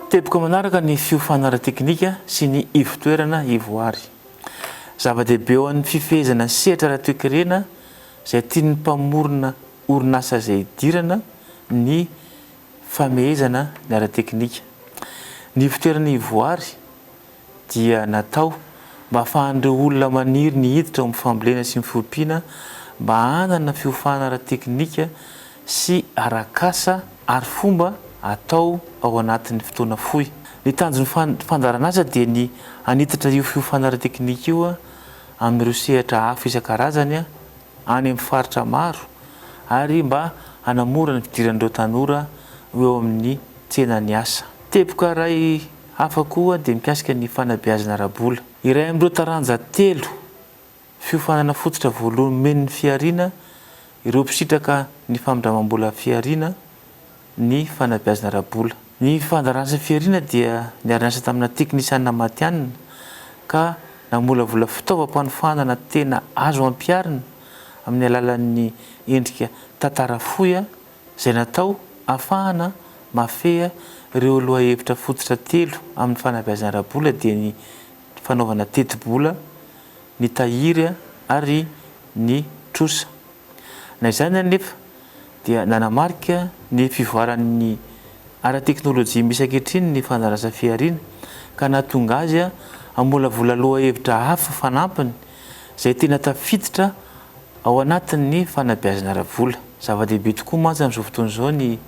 Teboka manaraka ny fiofana ara-teknika sy ny ivotoerana ivoary. Zava-dehibe ho an'ny fifehezana sehatra ara-toekarena izay tian'ny mpamorona orinasa izay hidirana ny famehezana ny ara-teknika. Ny ivotoerana ivoary. dia natao mba hahafahan'ireo olona maniry ny hiditra ao amin'ny fambolena sy ny fiompiana mba hanana fiofana ara-teknika sy arak'asa ary fomba atao ao anatin'ny fotoana fohy. Ny tanjon'ny fandaharan'asa dia ny hanitatra io fiofana ara-teknika io amin'ireo sehatra hafa isan-karazany any amin'ny faritra maro ary mba hanamora ny fidiran'ireo tanora ho eo amin'ny tsenan'ny asa. Teboka iray. Hafa koa dia mikasika ny fanabeazana ara-bola. Iray amin'ireo taranja telo fiofanana fototra voalohany omen'ny Fihariana ireo mpisitraka ny famindramam-bola Fihariana ny fanabeazana ara-bola. Ny fandaran'asa Fihariana dia niara-niasa tamina teknisianina matihanina ka namolavola fitaovam-panofanana tena azo ampiharina amin'ny alalan'ny endrika tantara fohy, izay natao hahafahana mahafehy ireo lohahevitra fototra telo amin'ny fanabeazana ara-bola dia ny fanaovana tetibola, ny tahiry ary ny trosa. Na izany anefa dia nanamarika ny fivoaran'ny ara-teknolojia misy ankehitriny ny fandrarasa fihariana ka nahatonga azy hamolavola lohahevitra hafa fanampiny izay tena tafiditra ao anatin'ny fanabeazana ara-bola. Zava-dehibe tokoa mantsy amin'izao fotoana izao ny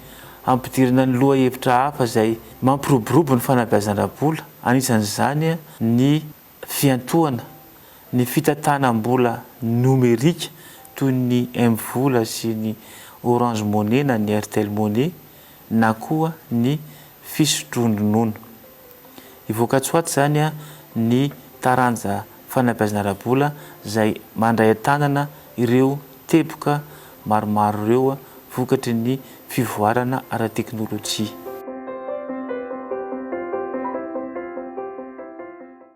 hampidirana ny lohahevitra hafa izay mampiroborobo ny fanabeazana ara-bola, anisan'izany ny fiantohana ny fitantanam-bola nomerika toy ny M-vola sy ny Orange Money na ny Airtel Money na koa ny fisotroan-dronono. Hivoaka tsy ho ato izany ny taranja fanabeazana ara-bola izay mandray an-tanana ireo teboka maromaro ireo vokatry ny fivoarana ara-teknolojia.